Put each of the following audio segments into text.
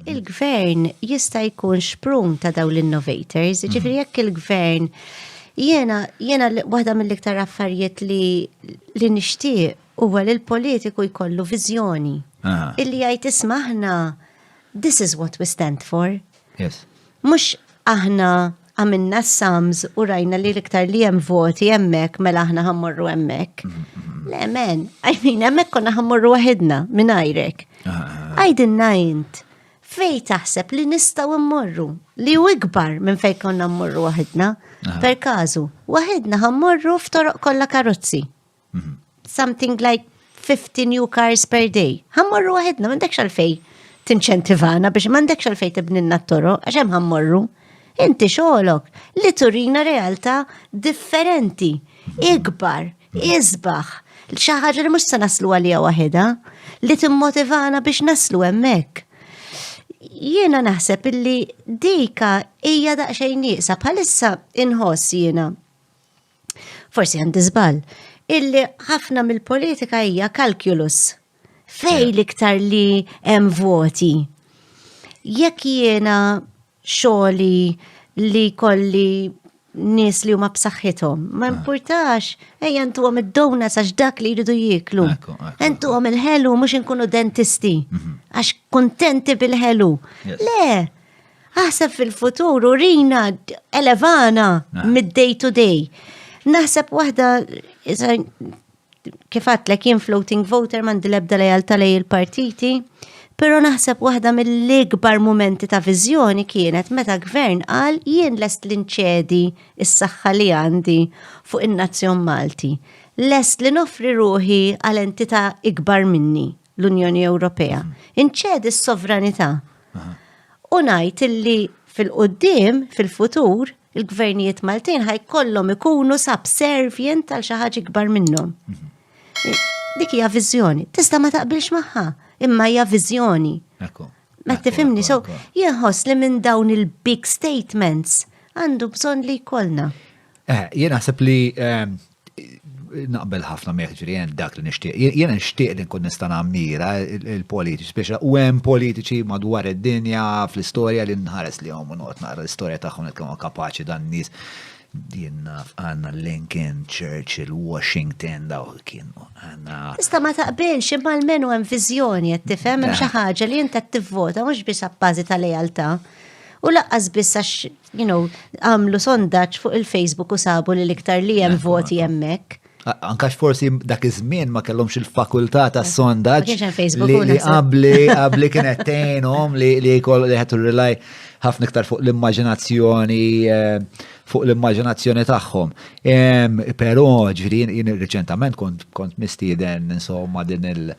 il-gvern jista' jkun xprun ta' daw l-innovators, mhm. ġifri jekk il-gvern jena, jena waħda mill-iktar affarijiet li li nixtieq huwa li l-politiku jkollu viżjoni. Illi jgħid ismaħna, this is what we stand for. Yes. Mhux aħna għamilna s-sams u rajna li l-iktar li hemm voti hemmhekk mela aħna ħammorru hemmhekk. Le men, I mean hemmhekk konna ħammorru waħedna minn għajrek. Għajdinna int fej taħseb li nistgħu mmorru li hu ikbar minn fejn konna mmorru waħedna. Per każu, waħedna ħammorru f'toroq kollha karozzi. Mhm. Something like 50 new cars per day. Ħammorru waħedna, m'għandekx għalfej tinċentivana biex m'għandekx għalfej tibninna t-toro, għax hemm ħammorru. Inti xogħolok li turina realtà differenti, ikbar, isbaħ, xi ħaġa li mhux se naslu għalija waħedha, li timmotivana biex naslu hemmhekk. Jiena naħseb illi dika hija daqsxejn nieqsa bħalissa inħoss jiena forsi għandi żball, illi ħafna mill-politika hija kalkulus. Fej l-iktar li hemm voti. Jekk jiena xogħli li kolli nis li huma b'saħħithom. Ma ah. importax, ej jentu għom id-dona sax dak li jridu jiklu. Entu għom il-ħelu mux inkunu dentisti. Mhm. Għax kontenti bil-ħelu. Le, Aħseb fil-futur u rina elevana ah. mid-day to day. Naħseb waħda kif għatlek jien floating voter mandi lebda lejal talej il-partiti, pero naħseb waħda mill-ikbar momenti ta' viżjoni kienet meta gvern qal jien lest l-inċedi is-saħħa li għandi fuq in-nazzjon Malti. Lest li nofri ruħi għal entità ikbar minni, l-Unjoni Ewropea. Inċedi s-sovranità. U ngħid illi fil-qoddim, fil-futur, il-gvernijiet Maltin ħajkollhom ikunu subservient għal xi ħaġa ikbar minnhom. Dik hija viżjoni. Tista' ma taqbilx magħha, imma hija viżjoni. Ma tifimni, so jinħoss li minn dawn il-big statements għandu bżonn li jkollna. Eh, jien naħseb li ehm, Naqbel ħafna meħġri jen dak li nixtieq. Jen nixtieq li nkun nista' nammira il-politiċi, speċa u hemm politiċi madwar id-dinja fl-istorja li nħares li hom noqgħod naqra l-istorja tagħhom qed kienu kapaċi dan nies jien naf għandna Lincoln, Churchill, Washington daw kienu għandna. Ista ma taqbilx imma l-menu hemm viżjoni qed tifhem hemm xi ħaġa li inta tivvota mhux biss appażi ta' lejaltà. U laqqas biss għax you know, għamlu sondaġġ fuq il-Facebook u sabu li l-iktar li hemm voti hemmhekk. Ankax forsi dak iż-żmien ma kellhomx il-fakultà ta' sondaġġ li qabli qabli kienet tgħinhom li li jkoll li ħetu rilaj ħafna iktar fuq l-immaġinazzjoni eh, fuq l-immaġinazzjoni tagħhom. Però ġifieri jien riċentament kont kont mistieden insomma din il-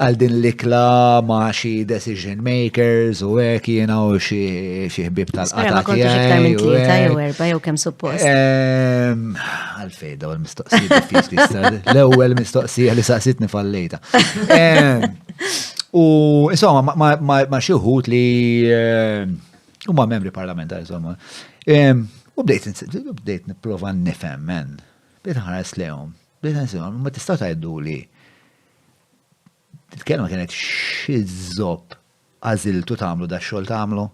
għal din l-ikla ma' xi decision makers u hekk jiena u xi ħbib tal-qata tiegħi. U ta' jew erba' jew kemm suppost. Ehm, għalfej daw il-mistoqsija l-ewwel mistoqsija li saqsitni fallejta. Ehm, u insomma ma' xi wħud li ehm, huma membri parlamentari insomma. U bdejt nipprova nifhem men. Bdejt ħares lehom. Bdejt nsemgħu ma tista' tgħiddu li Il-kelma kienet xi żopp għażiltu tagħmlu da xogħol tagħmlu?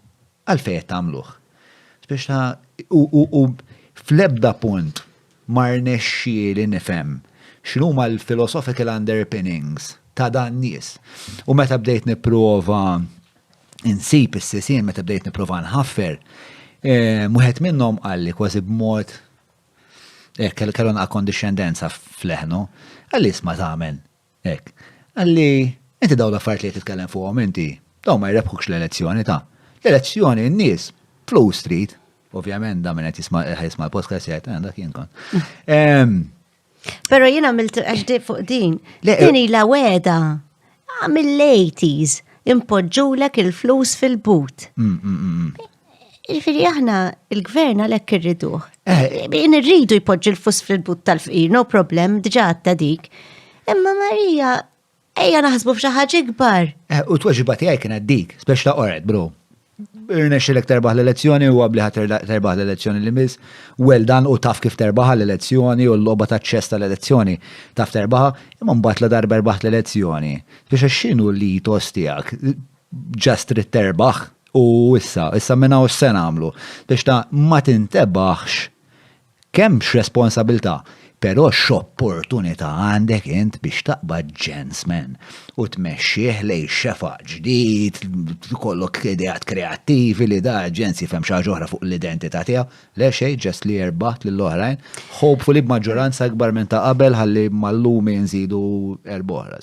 Għalfejn qed tagħmluh? Biex ta' u fl-ebda punt ma rnexxieli nifhem x'inhuma l-philosophical underpinnings ta' dan nies. U meta bdejt nipprova insib is-sisien, meta bdejt nipprova nħaffer, eh, wieħed minnhom qalli kważi b'mod Ek, kellu naqa kondixxendenza f'leħnu. Għalli isma tamen. Ek. Għalli, inti daw l-affarijiet li titkellem fuqhom inti, daw ma jrebħukx l-elezzjoni ta' l-elezzjoni n-nies flus trid. Ovvjament da minn qed jisma' jisma' l-podcast jgħid eh, dak jien kont. Pero jien għamilt għaxdi fuq din. Din eh, ila weda mill-80s impoġġulek il-flus fil-but. Mm, mm, mm, Ġifiri aħna il-gvern għalhekk irriduh. Eh. Irridu jpoġġi l-fus fil-but tal-fqir, no problem, diġà għatta dik. Imma Marija, ejja naħsbu f'xi ħaġa ikbar. Eh, u t-tweġiba tiegħi kienet dik, spex ta' qoret, bro. Irnex lek terbaħ l-elezzjoni u għabli terbaħ l-elezzjoni li mis, well dan u taf kif terbaħ l-elezzjoni u l-loba ta' ċess tal-elezzjoni taf terbaħ, imma mbagħad la darba erbaħt l-elezzjoni. Biex xinu li tos tiegħek, Ġast trid terbaħ u issa, issa minn hawn se nagħmlu. Biex ta' ma tintebaħx kemm x'responsabilità, però x'opportunità għandek int biex taqbad ġensmen u tmexxih lejn xefaq ġdid, tkollok ideat kreattivi li da ġens jifhem xi ħaġa oħra fuq l-identità tiegħu. Le xejn, ġast li jerbaħt lil oħrajn, hopefully b'maġġoranza akbar minn ta' qabel ħalli mal-lumi nżidu erba' oħra.